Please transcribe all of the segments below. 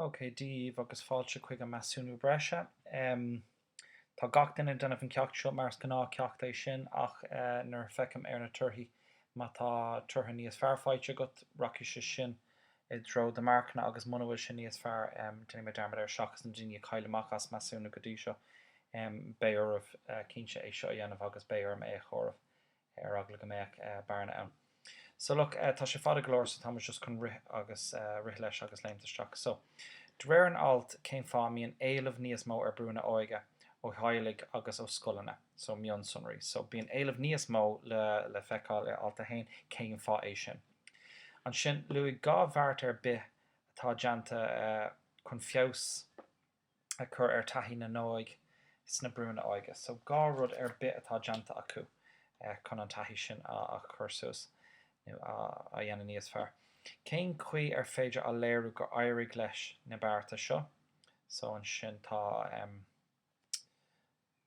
OK, daoibh agus fáilte chuig an Measúnú Breise. Tá gach duine ag déanamh an ceacht seo mar is gnáth ceacht é sin ach nuair a feicim ar na torthaí, má tá toradh níos fearr faighte agat, rachaidh sé sin i dtreo do marcanna agus muna bhfuil sé níos fearr, déanfaidh mé dearmad air. Seachas na daoine a chaill amach as Measúnú go dtí seo, beidh oraibh cinnte é seo a dhéanamh agus beidh orm é a chomhaireamh ar eagla go mbeadh bearna ann. So, look, tá sé fada go leor, so tá muid just chun rith agus rith leis agus léimt isteach. So, de réir an ailt, cén fáth a mbíonn éileamh níos mó ar brúnna óige ó theaghlaigh agus ó scoileanna? So, mionsonraí. So, bíonn éileamh níos mó le feiceáil i alt a haon, cén fáth é sin? Ansin, luaigh dhá bheart ar bith atá déanta chun feabhas a chur ar thaithí na n-óg sna brúnna óige. So dhá rud ar bith atá déanta acu chun an taithí sin a chur suas nó a dhéanamh níos fearr. Cén chaoi ar féidir a léiriú gur éirigh leis na bearta seo? So ansin tá.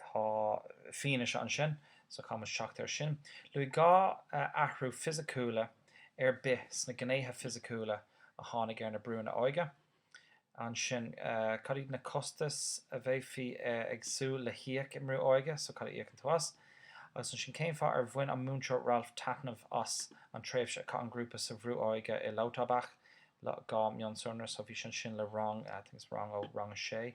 Tá fianaise ansin so conas teacht air sin. Luaigh dhá athrú fisiciúla ar bith sna gnéithe fisiciúla a tháinig ar na brúnna óige. Ansin, cad iad na costais a bheifí ag súil le híoc i mbrú óige, so cad a íocann tú as? Agus ansin, cén fáth ar bhain an Múinteoir Ralph taitneamh as an tréimhse a chaith an grúpa sa bhrú óige i Lauterbach, dhá mhionsonra, so bhí sé ansin le rang, I think it's rang ó rang a sé.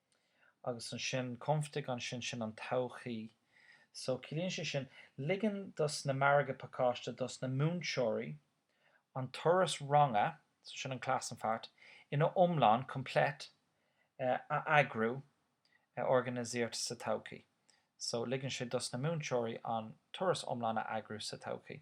Agus ansin, künftig ansin, sin an todhchaí. So, ciallaíonn sé sin, ligeann dos na margaidh pacáiste, dos na múinteoirí, an turas ranga, so sin an Klassenfahrt, ina iomlán, komplett, a eagrú, organisiert, sa todhchaí. So, ligeann sé dos na múinteoirí an turas iomlán a eagrú sa todhchaí.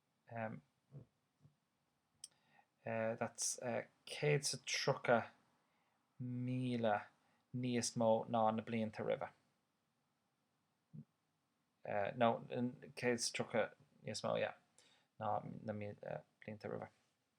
that's 130,000 níos mó ná na blianta roimhe. no, 130 níos mó, yeah, ná na blianta roimhe.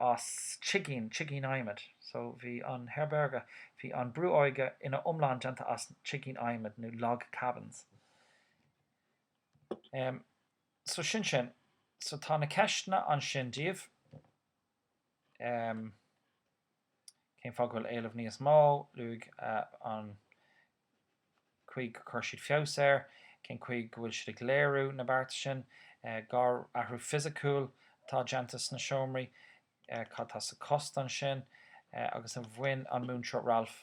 as tigín, tigín adhmaid. So, bhí an Herberge, bhí an brú óige ina iomlán déanta as tigín adhmaid nó log cabins. Em, so sin sin. So tá na ceisteanna ansin daoibh. Em, cén fáth go bhfuil éileamh níos mó, luaigh eh, an, chaoi gur chuir siad feabhas air, cén chaoi go bhfuil siad ag léiriú na bearta sin, dhá athrú fisiciúil atá déanta sna seomraí, cad atá sa cost ansin, agus an bhain an Múinteoir Ralph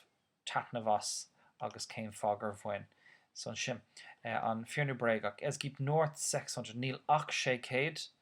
taitneamh as agus cén fáth gur bhain. So ansin, an fíor nó bréagach, es gibt nur 600, níl ach 600